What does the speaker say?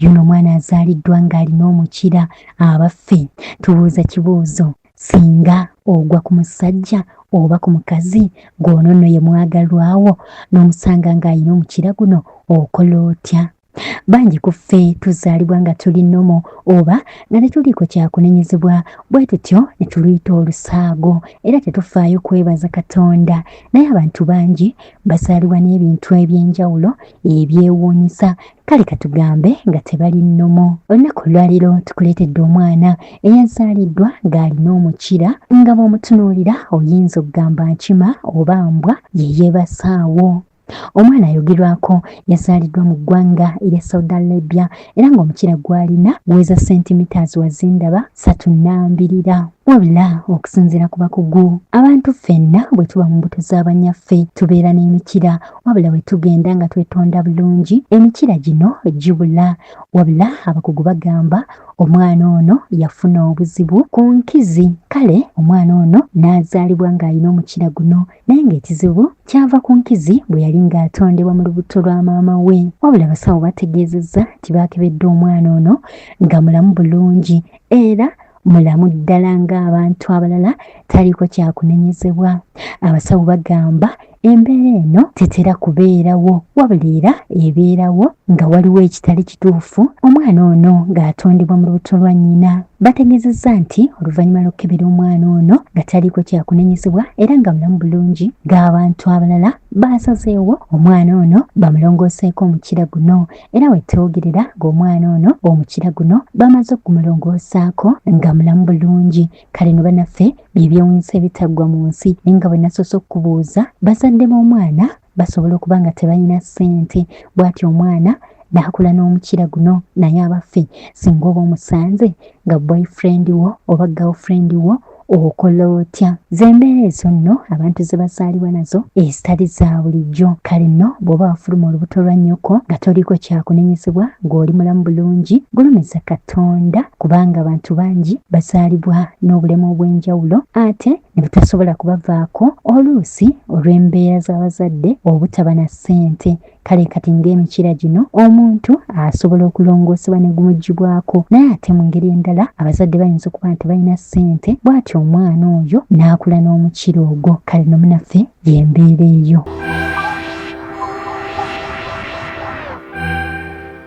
Yuno omwana azaaliddwa ng'alina omukira abaffe tubuuza kibuuzo singa ogwa ku musajja oba ku mukazi gw'ono nno ye mwagalwawo n'omusanga ng'alina omukira guno okola otya bangi ku ffe tuzaalibwa nga tuli nomo oba nga tetuliiko kyakunenyezebwa bwe tutyo ne tuluyita olusaago era tetufaayo kwebaza katonda naye abantu bangi bazaalibwa n'ebintu eby'enjawulo ebyewuunyisa kale katugambe nga tebali nnomo olunaku olwaliro tukuleetedde omwana eyazaaliddwa ng'alina omukira nga bw'omutunuulira oyinza okugamba nkima oba mbwa ye yeebasaawo omwana ayogerwako yazaaliddwa mu ggwanga erya saudi arabia era ng'omukira gwalina guweza sentimiters wazindaba satu nambirira wabula okusinziira ku bakugu abantu ffenna bwe tuba mu mbuto z'abanyaffe tubeera n'emikira wabula bwe tugenda nga twetonda bulungi emikira gino gibula wabula abakugu bagamba omwana ono yafuna obuzibu ku nkizi kale omwana ono n'azaalibwa ng'alina omukira guno naye ng'ekizibu kyava ku nkizi bwe yali ng'atondebwa mu lubuto lwa maama we wabula abasawo bategeezezza nti baakebedde omwana ono nga mulamu bulungi era mulamu ddala ng'abantu abalala taliko kyakunenyezebwa abasawo bagamba embeera eno tetera kubeerawo wabula era ebeerawo nga waliwo ekitali kituufu omwana ono ng'atondebwa mu lubuto lwa nnyina bategeezezza nti oluvannyuma lw'okukebera omwana ono nga taliiko kyakunenyezebwa era nga mulamu bulungi ng'abantu abalala baasazeewo omwana ono bamulongooseeko omukira guno era wetwogerera ng'omwana ono omukira guno bamaze okumulongoosaako nga mulamu bulungi kale ne banaffe byebyewunyisa ebitaggwa mu nsi naye nga bwe nasoose okukubuuza bazadde b'omwana basobola okuba nga tebalina ssente bw'ati omwana n'akula n'omukira guno naye abaffe singa oba omusanze nga boyfriend wo oba girlfriend wo okola otya zembeera ezo nno abantu ze bazaalibwa nazo ezitali za bulijjo kale nno bw'oba wafuluma olubuto lwa nnyoko nga toliko kyakunenyezebwa ng'oli mulamu bulungi gulumiza katonda kubanga abantu bangi bazaalibwa n'obulemu obw'enjawulo ate ne butasobola kubavaako oluusi olw'embeera z'abazadde obutaba na ssente kale kati ng'emikira gino omuntu asobola okulongoosebwa ne gumugibwako naye ate mu ngeri endala abazadde bayinza okuba nti balina ssente bw'atyo omwana oyo n'akula n'omukira ogwo kale nomunaffe y'embeera eyo